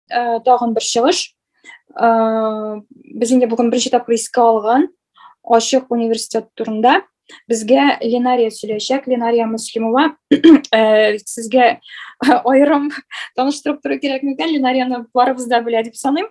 Э, тагын бер чыгыш э, без инде бүген беренче тапкыр искә алган ачык университет турында безгә ленария сөйләшәк ленария муслимова э, сезгә аерым таныштырып тору кирәкмикән ленарияны барыбыз да белә дип саныйм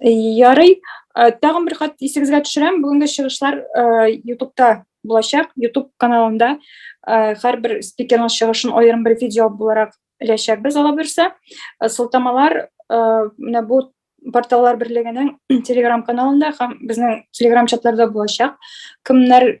Ярый, э, тагын бер кат исегезгә төшерәм, бүгенге чыгышлар э, ютубта булачак, ютуб каналында э, һәрбер спикерның чыгышын аерым бер видео буларак эләчәкбез ала берсе. Сылтамалар менә бу порталлар берлегенең телеграм каналында һәм безнең телеграм чатларда булачак. Кемнәр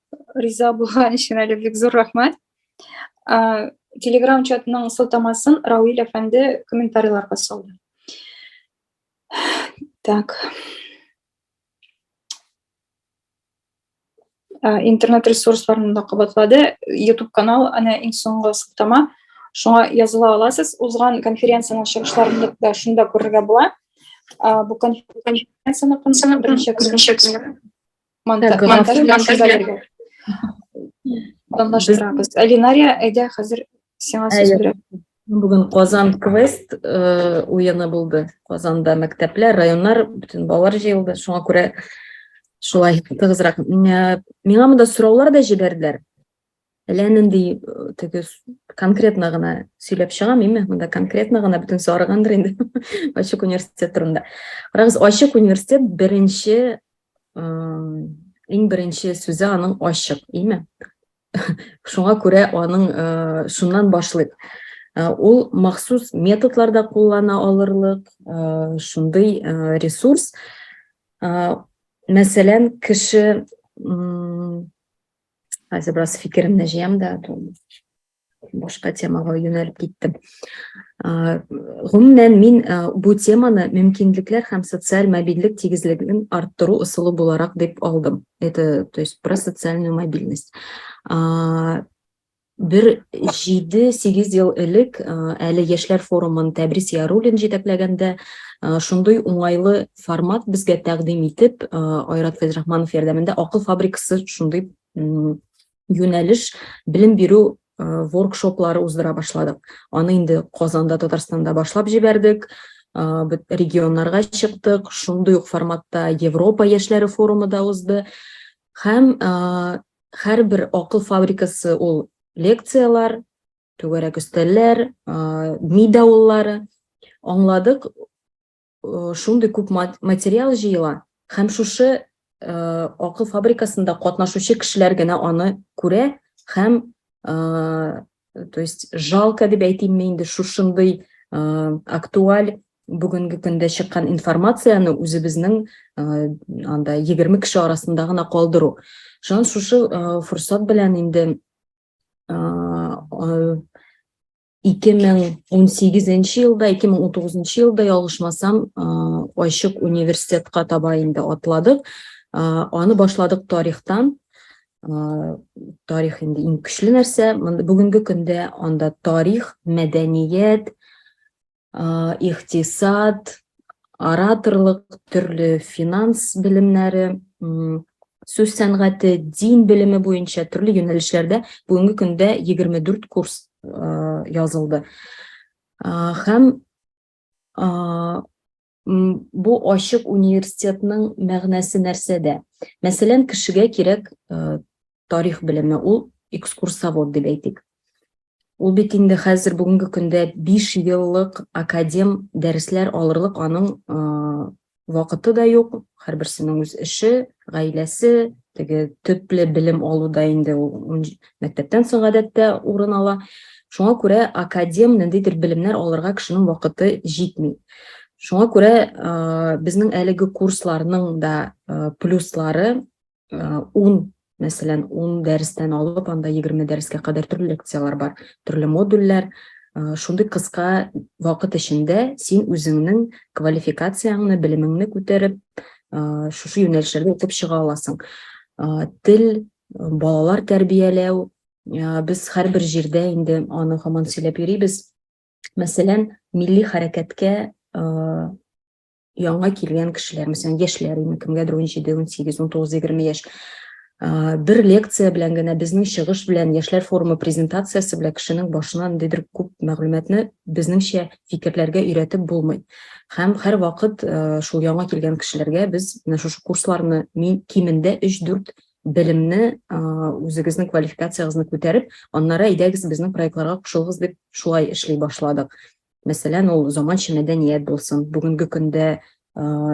Риза булган өчен әле бик зур рәхмәт. Телеграм чатының сылтамасын Рауил әфәнде комментарийларга салды. Так. Интернет ресурсларын да кабатлады. YouTube канал әнә иң соңгы сылтама. Шуңа языла аласыз. Узган конференциянең чыгышларын да шунда күрергә була. Бу конференцияне беренче Монтаж, монтаж, монтаж бирергә. Данлаштырабыз. Алинария, әйдә хәзер сиңа сүз бирәм. Бүген Казан квест э, уены булды. Казанда мәктәпләр, районнар, бөтен балалар җыелды. Шуңа күрә шулай тыгызрак. Э, миңа монда сораулар да җибәрделәр. Әллә нинди теге конкретно гына сөйләп чыгам, име? Монда конкретно гына бөтен сарыгандыр инде. Ачык университет турында. Карагыз, ачык университет беренче иң беренче сүзе аның ачык, име? Шуңа күрә аның шуннан башлыйк. Ул махсус методларда куллана алырлык, шундый ресурс. Мәсәлән, кеше Хәзер бераз фикеремне җыям да, башка темага юнәлеп киттем. Гомумән мин бу теманы мөмкинлекләр һәм социаль мобильлек тигезлеген арттыру ысулы буларак дип алдым. Это, то есть про социальную мобильность. Бер җиде-сигез ел элек, әле яшьләр форумын Тәбрис Яруллин җитәкләгәндә, шундый уңайлы формат безгә тәкъдим итеп, Айрат Фәйзрахманов ярдәмендә Акыл фабрикасы шундый юнәлеш белем бирү воркшоплары уздыра башладык. Аны инде Казанда, Татарстанда башлап җибәрдек, регионнарга чыктык, шундый ук форматта Европа яшьләре форумы да узды. Һәм һәрбер акыл фабрикасы ул лекцияләр, түгәрәк өстәлләр, ми давыллары. Аңладык, шундый күп материал җыела һәм шушы акыл фабрикасында катнашучы кешеләр генә аны күрә һәм то есть жалко дип әйтимме инде шушындый актуаль бүгенге көндә чыккан информацияне үзебезнең анда егерме кеше арасында гына калдыру шуннан шушы форсат белән инде ике мең он сигезенче елда ике мең он тугызынчы елда ялгышмасам ачык университетка таба инде атладык аны башладык тарихтан тарих инде иң көчле нәрсә бүгенге көндә анда тарих мәдәният иктисад ораторлык төрле финанс белемнәре сүз сәнгате дин белеме буенча төрле юнәлешләрдә бүгенге көндә 24 курс язылды һәм Бу ачык университетның мәгънәсе нәрсәдә? Мәсәлән, кешегә кирәк э, тарих белеме, ул экскурсовод дип әйтик. Ул бит инде хәзер бүгенге көндә 5 еллык академ дәресләр алырлык аның э, вакыты да юк, һәрберсенең үз эше, гаиләсе, теге төпле белем алуда инде ул мәктәптән соң гадәттә урын ала. Шуңа күрә академ ниндидер белемнәр алырга кешенең вакыты җитми. Шуңа күрә э, безнең әлеге курсларның да э, плюслары э, ун мәсәлән ун дәрестән алып анда егерме дәрескә кадәр төрле лекцияләр бар төрле модульләр шундый кыска вакыт эчендә син үзеңнең квалификацияңне белемеңне күтәреп шушы юнәлешләрдә укып чыга аласың тел балалар тәрбияләү без һәрбер җирдә инде аны һаман сөйләп йөрибез мәсәлән милли хәрәкәткә яңа килгән кешеләр мәсәлән яшьләр инде кемгәдер 17 18 19 20 яшь бер лекция белән генә безнең чыгыш белән яшьләр форумы презентациясе белән кешенең башына ниндидер күп мәгълүматны безнеңчә фикерләргә өйрәтеп булмый һәм һәрвакыт шул яңа килгән кешеләргә без менә шушы курсларны кимендә өч дүрт белемне үзегезнең квалификациягезне күтәреп аннары әйдәгез безнең проектларга кушылыгыз дип шулай эшли башладык мәсәлән ул заманча мәдәният булсын бүгенге көндә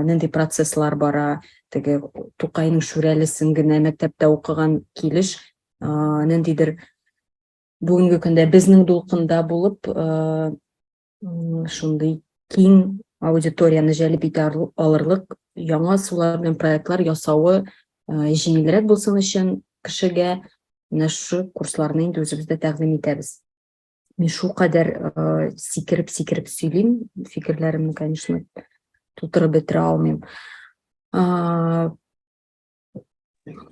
нинди процесслар бара теге тукайның шүрәлесен генә мәктәптә укыган килеш ниндидер бүгенге көндә безнең дулкында булып шундый киң аудиторияны җәлеп итә алырлык яңа сулар белән проектлар ясавы җиңелрәк булсын өчен кешегә менә шу курсларны инде үзебездә тәкъдим итәбез Мин шулкадәр сикереп-сикереп сөйлим, фикерләремне, конечно, тутырып бетерә алмыйм.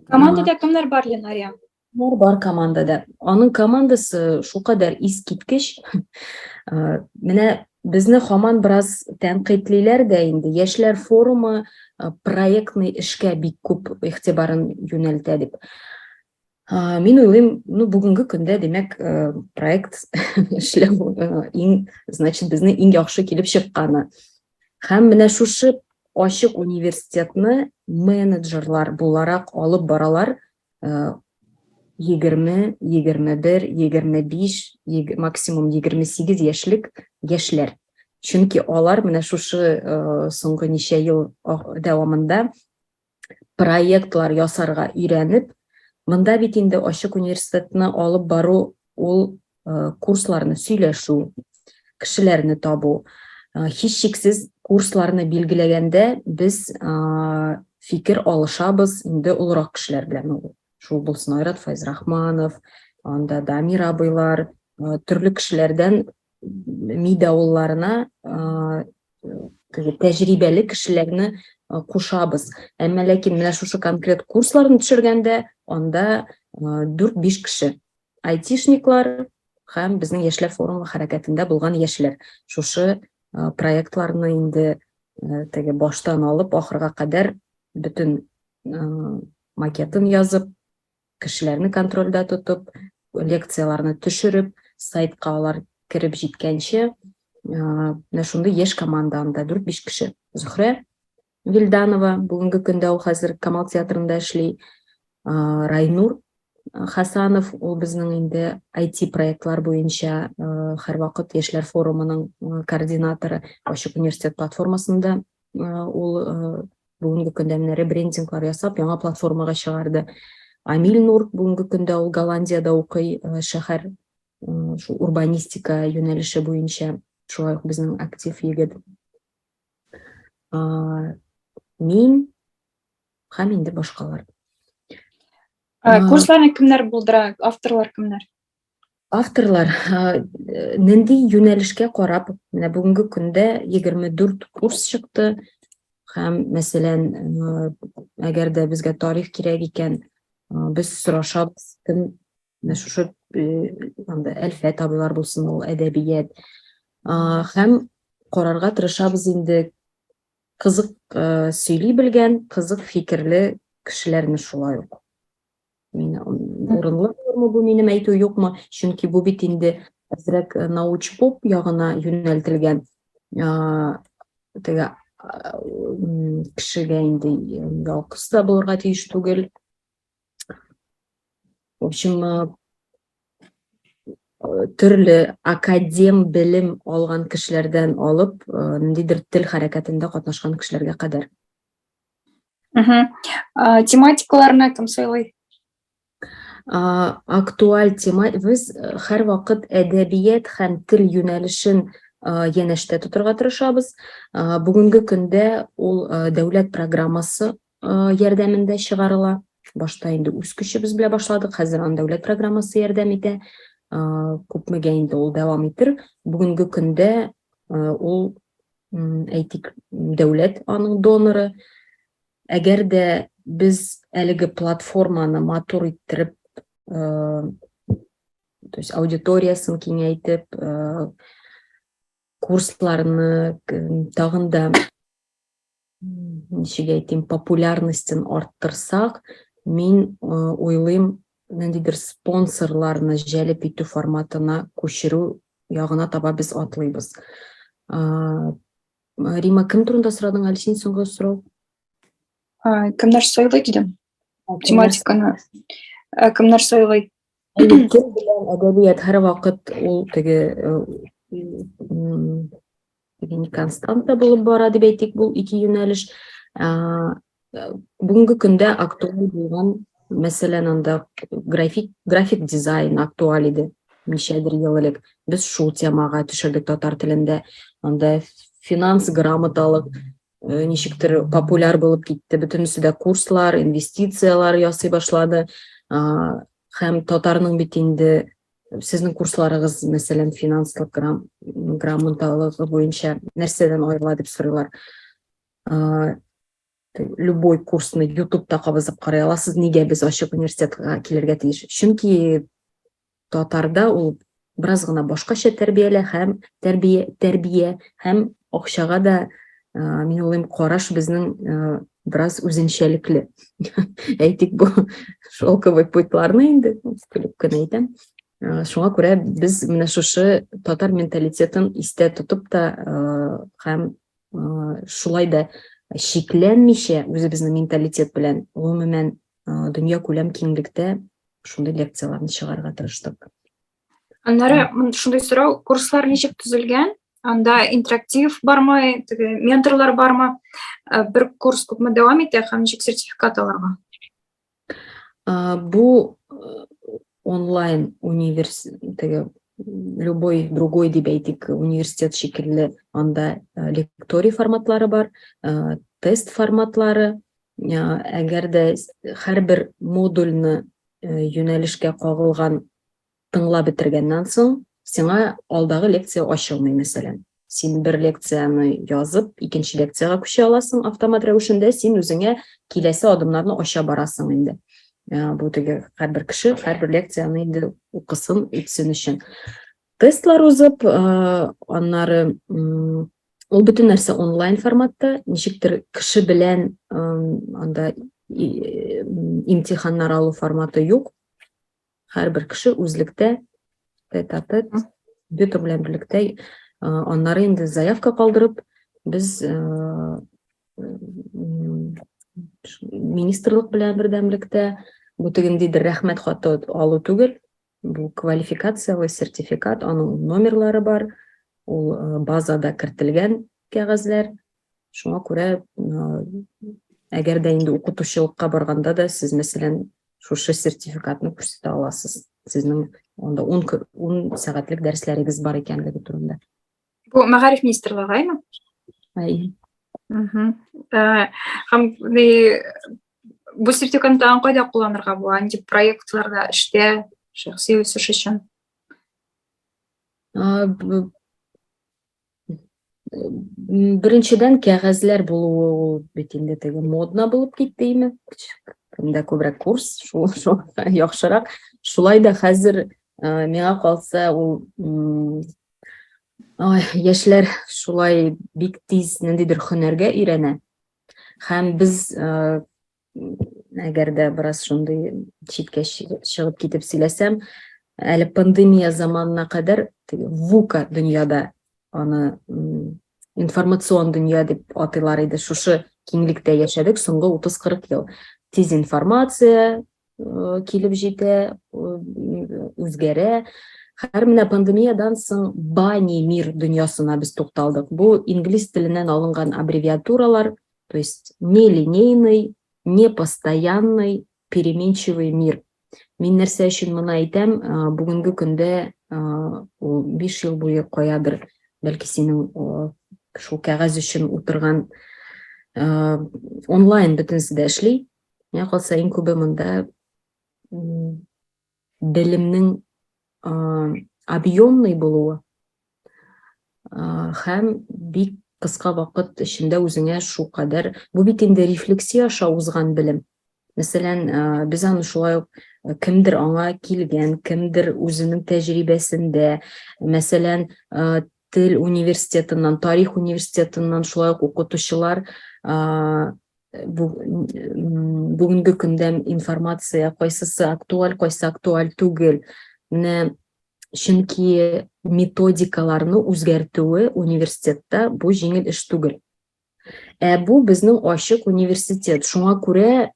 Командада кемнәр бар, Ленария? Бар, бар командада. Аның командасы шулкадәр искиткеч. Менә безне хаман бераз тәнкыйтьлиләр дә инде. Яшьләр форумы проектный эшкә бик күп игътибарын юнәлтә дип. Ә, мин уйлыйм, ну, бүгенге көндә, димәк, э, проект эшләү э, иң, значит, безне иң яхшы килеп чыкканы. Һәм менә шушы ачык университетны менеджерлар буларак алып баралар 20, 21, 25, максимум 28 яшьлек яшьләр. Чөнки алар менә шушы э, соңгы ничә ел дәвамында проектлар ясарга өйрәнеп, монда бит инде ачык университетны алып бару ул э, курсларны сөйләшү, кешеләрне табу. Э, һичшиксез курсларны билгеләгәндә без фикер алышабыз инде олырак кешеләр белән ул. Шул булсын Айрат Файзрахманов, анда Дамир абыйлар, төрле кешеләрдән ми давылларына тәҗрибәле кешеләрне кушабыз. Әмма ләкин менә шушы конкрет курсларны төшергәндә анда 4-5 кеше. Айтишниклар һәм безнең яшьләр форумы хәрәкәтендә булган яшьләр. Шушы проектларны инде теге баштан алып ахырга кадәр бөтен макетын язып, Кешеләрне контрольдә тотып, лекцияләрне төшереп, сайтка алар кереп җиткәнче, менә шундый яшь команда анда 4-5 кеше. Зөхрә Вилданова, бүгенге көндә ул хәзер Камал театрында эшли. Райнур Хасанов, ул безнең инде IT-проектлар буенча һәрвакыт яшьләр форумының координаторы Ачык университет платформасында ул бүгенге көндә менә ребрендинглар ясап яңа платформага чыгарды амиль нур бүгенге көндә ул голландиядә укый шәһәр шул урбанистика юнәлеше буенча шулай ук безнең актив егет мин һәм инде башкалар курсларны кемнәр булдыра авторлар кемнәр Авторлар нинди юнәлешкә карап, менә бүгенге көндә 24 курс чыкты һәм, мәсәлән, әгәр дә безгә тарих кирәк икән, без сорашабыз, кем менә шушы анда Әлфә табилар булсын, ул әдәбият. Һәм карарга тырышабыз инде кызык сөйли белгән, кызык фикерле кешеләрне шулай ук. мин урынлы булырмы бу минем әйтү юкмы чөнки бу бит инде әзрәк э, научпоп ягына юнәлтелгән теге кешегә инде ялкыс та булырга тиеш түгел в общем э, э, төрле академ белем алган кешеләрдән алып ниндидер тел хәрәкәтендә катнашкан кешеләргә кадәр Угу. Тематикаларны кем сайлый? Актуаль тема, без һәр вакыт әдәбият һәм тел юнәлешен янәштә тотырга тырышабыз. Бүгенге көндә ул дәүләт программасы ярдәмендә чыгарыла. Башта инде үз көчебез белән башладык, хәзер аны дәүләт программасы ярдәм итә. Күпмегә инде ул дәвам итер. Бүгенге көндә ул әйтик, дәүләт аның доноры. Әгәр дә без әлеге платформаны матур иттереп, э, то есть аудиториясын киңәйтеп, э, курсларны тагын да ничек әйтим, популярностен арттырсак, мин уйлыйм, ниндидер спонсорларны җәлеп итү форматына күчерү ягына таба без атлыйбыз. Рима, кем турында сорадың әле син соңгы сорау? Кемнәр сайлый дидем. тематиканы э, кемнәр сайлый кем белән әдәбият һәрвакыт ул теге э, теге не константа булып бара дип әйтик бул ике юнәлеш э, бүгенге көндә актуаль булган мәсәлән анда график график дизайн актуаль иде ничәдер ел элек без шул темага төшердек татар телендә анда финанс грамоталык э, ничектер популяр булып китте бөтенесе дә курслар инвестициялар ясый башлады һәм татарның бит инде сезнең курсларыгыз мәсәлән финанслык грам, грамоталыгы буенча нәрсәдән аерыла дип сорыйлар любой курсны ютубта кабызып карый аласыз нигә без ачык университетка килергә тиеш чөнки Татарда ул бераз гына башкача тәрбиялә һәм тәрбия, тәрбия һәм акчага да мин уйлыйм караш безнең бераз үзенчәлекле. Әйтик бу шелковый путларны инде көлеп кенә әйтәм. Шуңа күрә без менә шушы татар менталитетын истә тотып та һәм шулай да шикләнмичә үзебезнең менталитет белән гомумән дөнья күләм киңлектә шундый лекцияләрне чыгарга тырыштык аннары шундый сорау курслар ничек төзелгән анда интерактив бармы теге менторлар бармы э, бер курс күпме дәвам итә һәм ничек сертификат алырга э, бу э, онлайн университеге любой другой дип әйтик университет шикелле анда лекторий форматлары бар тест форматлары Әгәр дә һәрбер модульны юнәлешкә кагылган тыңлап бетергәннән соң, сиңа алдагы лекция ачылмый, мәсәлән. Син бер лекцияне язып, икенче лекциягә күчә аласың автомат рәвешендә, син үзеңә киләсе адымнарны ача барасың инде. Бу теге һәрбер кеше һәрбер лекцияне инде укысын, үтсен өчен. Тестлар узып, аннары ул бөтен нәрсә онлайн форматта, ничектер кеше белән анда имтиханнар алу форматы юк. Һәрбер кеше үзлектә, тет-а-тет, компьютер белән берлектә, аннары инде заявка калдырып, без министрлык белән бердәмлектә, бу тегендидер рәхмәт хаты алу түгел, Бу квалификацияле сертификат, аның номерлары бар, ул э, базада кертелгән кәгазьләр. Шуңа күрә, э, әгәр дә инде укытучылыкка барганда да сез, мәсәлән, шушы сертификатны күрсәтә аласыз. Сезнең анда 10 сәгатьлек дәресләрегез бар икәнлеге турында. Бу мәгариф министрлыгы гаймы? Әйе. Э, һәм бу сертификатны кайда кулланырга була? Нинди проектларда, эштә, шәхси үсеш өчен? Беренчедән кәгазьләр булуы ул бит инде теге модно булып китте име? Кемдә күбрәк курс, шул яхшырак. Шулай да хәзер э, миңа калса ул Ой, яшьләр шулай бик тиз ниндидер хөнәргә өйрәнә. Һәм без әгәр дә бераз шундый читкә чыгып китеп сөйләсәм, әле пандемия заманына кадәр вука дөньяда аны информацион дөнья дип атыйлар иде. Шушы киңлектә яшәдек соңгы 30-40 ел. Тиз информация, килеп җитә, үзгәрә. Хәзер менә пандемиядән соң Бани мир дөньясына без тукталдык. Бу инглиз теленнән алынган аббревиатуралар, то есть нелинейный, непостоянный, переменчивый мир. Мин нәрсә өчен моны әйтәм, бүгенге көндә ул 5 ел буе каядыр, бәлки синең шул кәгазь өчен утырган онлайн бөтенесе дә эшли, Миңа калса иң күбе монда белемнең объемный булуы һәм бик кыска вакыт эчендә үзеңә шул кадәр бу бит инде рефлексия аша узган белем мәсәлән без аны шулай ук кемдер аңа килгән кемдер үзенең тәҗрибәсендә мәсәлән тел университетыннан тарих университетыннан шулай ук укытучылар бүгенге көндә информация кайсысы актуаль, кайсы актуаль түгел, менә чөнки методикаларны үзгәртүе университетта бу җиңел эш түгел. Ә бу безнең ачык университет, шуңа күрә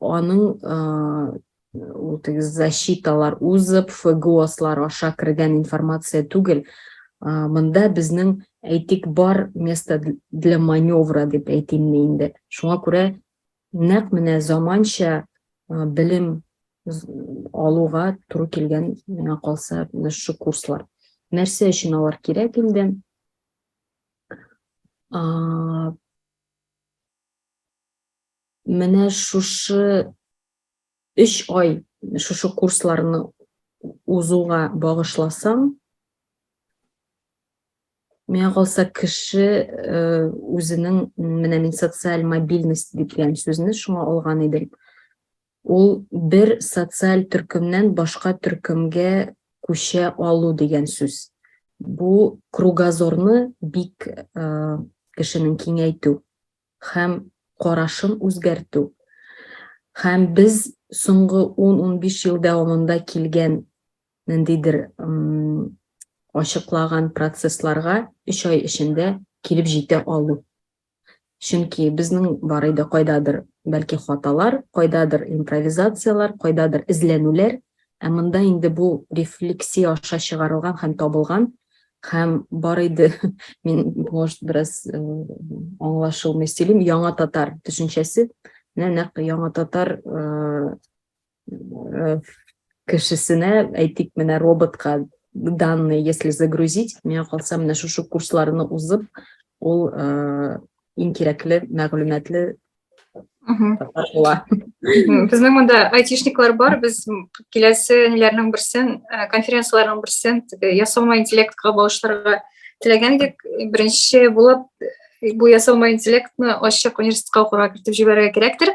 аның ул теге защиталар узып фгослар аша кергән информация түгел мында безнең әйтик бар место для маневра дип әйтим мин инде шуңа күрә нәкъ менә заманча белем алуга туры килгән миңа калса менә шу курслар нәрсә өчен алар кирәк инде менә шушы Өч ай шушы курсларны узуга багышласаң, миңа калса кеше э, үзенең менә мин социаль мобильность дигән сүзне шуңа алган идем ул бер социаль төркемнән башка төркемгә күчә алу дигән сүз бу кругозорны бик э, кешенең киңәйтү һәм карашын үзгәртү һәм без соңгы 10-15 ел дәвамында килгән ниндидер ачыклаган процессларга 3 ай эчендә килеп җитә алу. Чөнки безнең бар иде кайдадыр бәлки хаталар, кайдадыр импровизацияләр, кайдадыр эзләнүләр, Ә монда инде бу рефлексия аша чыгарылган һәм табылган һәм бар иде мин может бераз э, аңлашылмый сөйлим яңа татар төшенчәсе менә нәкъ яңа татар э, э, кешесенә әйтик менә роботка данные если загрузить миңа калса менә шушы курсларны узып ул иң кирәкле мәгълүматлы татар була безнең монда айтишниклар бар без киләсе ниләрнең берсен э, конференцияләрнең берсен теге ясалма интеллектка багышларга теләгән идек беренче булып э, бу ясалма интеллектны ачык университетка укырга кертеп җибәрергә кирәктер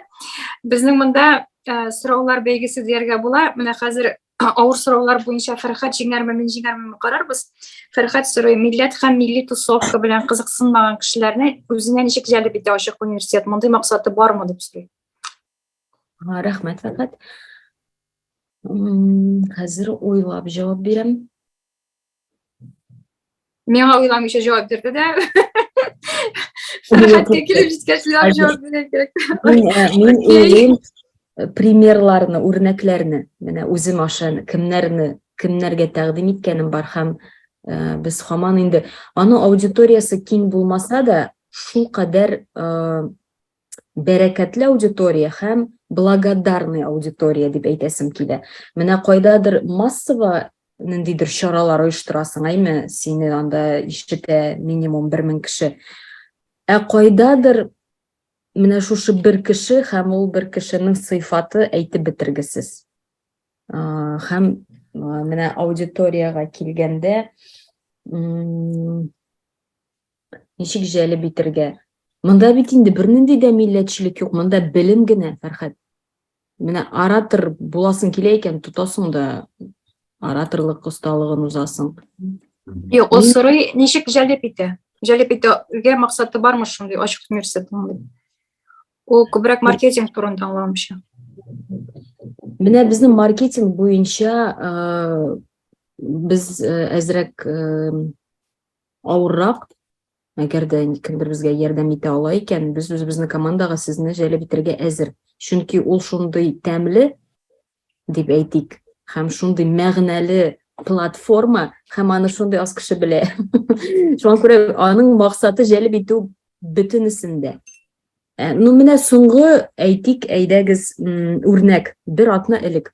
безнең монда э, сораулар бәйгесе дияргә була менә хәзер авыр сораулар буенча Фәрхәт җиңәрме, мин җиңәрме карарбыз. Фәрхәт сорый, милләт һәм милли тусовка белән кызыксынмаган кешеләрне үзенә ничек җәлеп итә ачык университет? Мондый максаты бармы дип сорый. Рәхмәт, Фәрхәт. Хәзер уйлап җавап бирәм. миңа уйламыйча жауап бирде да сәяхәткә килеп җиткәч уйлап жауап бирә кирәк мин уйлыйм примерларны үрнәкләрне менә үзем аша кемнәрне кемнәргә тәкъдим иткәнем бар һәм э, без һаман инде аны аудиториясе киң булмаса да шул кадәр э, бәрәкәтле аудитория һәм благодарный аудитория дип әйтәсем килә. Менә кайдадыр массово ниндидер чаралар оештырасың, әйме, сине анда ишетә минимум 1000 кеше. Ә кайдадыр менә шушы бер кеше һәм ул бер кешенең сыйфаты әйтеп бетергесез. Һәм менә аудиторияга килгәндә, Ничек җәлеп итергә? Монда бит инде бернинди дә милләтчелек юк, монда белем генә, Фәрхәт. Менә оратор буласың килә икән, тотасың да ораторлык осталыгын узасың. Юк, ул сорый, ничек җәлеп итә? Җәлеп итәргә максаты бармы шундый ачык университетның? Ул күбрәк маркетинг турында аңламыйча. Менә безнең маркетинг буенча э, без э, әзрәк э, Авыррак, әгәр дә кемдер безгә ярдәм итә ала икән, без үзебезнең командага сезне җәлеп итәргә әзер. Чөнки ул шундый тәмле, дип әйтик, һәм шундый мәгънәле платформа, һәм аны шундый аз кеше белә. Шуңа күрә аның максаты җәлеп итү бөтенесендә. Э, ну, менә соңгы әйтик, әйдәгез, үрнәк, бер атна элек.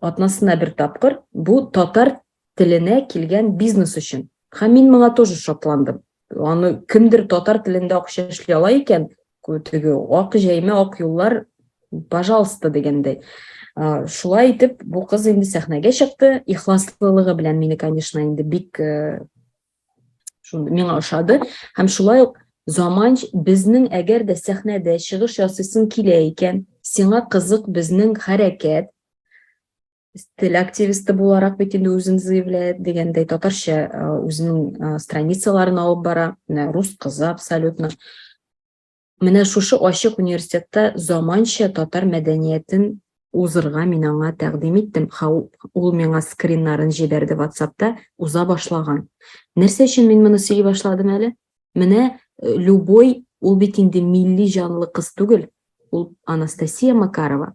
Атнасына бер тапкыр, бу татар теленә килгән бизнес өчен. Һәм мин моңа тоже шатландым. Аны кемдер татар телендә акча эшли ала икән, теге ак җәймә, ак юллар, пожалуйста дигәндәй. Шулай итеп, бу кыз инде сәхнәгә чыкты. Ихласлылыгы белән мине, конечно, инде бик Шундый миңа ошады. Һәм шулай ук заманч безнең әгәр дә сәхнәдә чыгыш ясыйсың килә икән, сиңа кызык безнең хәрәкәт, стиль активисты буларак бит инде үзен заявляет дигәндәй татарча үзенең страницаларын алып бара, рус кызы абсолютно. Менә шушы ачык университетта заманча татар мәдәниятен узырга мин аңа тәкъдим иттем. Ха, ул миңа скриннарын җибәрде WhatsAppта, уза башлаган. Нәрсә өчен мин моны сөйли башладым әле? Менә э, любой, ул бит инде милли җанлы кыз түгел, ул Анастасия Макарова.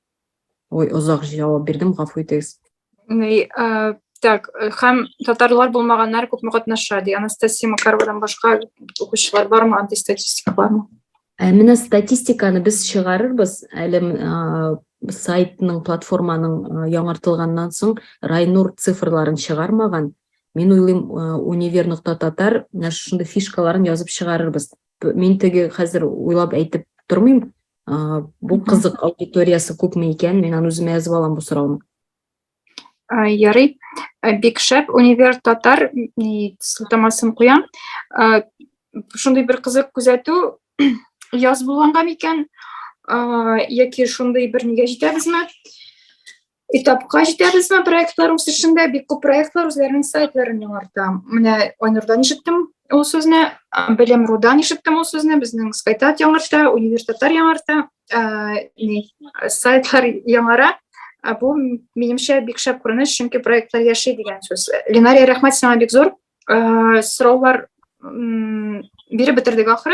Ой, озак җавап бирдем, гафу итегез. Ни, э, так, э, һәм татарлар булмаганнар күпме катнаша, ди. Анастасия Макаровадан башка укучылар бармы, андый статистика бармы? Ә менә статистиканы без чыгарырбыз, әле э, сайтның, платформаның яңартылганнан соң Райнур цифрларын чыгармаган. Мин уйлыйм, универ нокта татар менә шушындый фишкаларын язып чыгарырбыз. Мин теге хәзер уйлап әйтеп тормыйм, Ә, бу кызык аудиториясе күпме икән? Мин аны үземә язып алам бу сорауны. Ә, ярый. Ә, бик шәп универ татар сылтамасын куям. Ә, шундый бер кызык күзәтү яз булганга микән? Яки шундый бер нигә җитәбезме? И тапка җитәбезме проектлар үсешендә? Бик күп проектлар үзләренең сайтларын яңарта. Менә Айнурдан ишеттем ул сүзне, Белем Рудан ишеттем ул сүзне, безнең Скайтат яңарта, Универ Татар яңарта, ни, сайтлар яңара. Бу минемчә бик шәп күренеш, чөнки проектлар яши дигән сүз. Ленария, рәхмәт сиңа бик зур. Сораулар биреп бетердек ахры.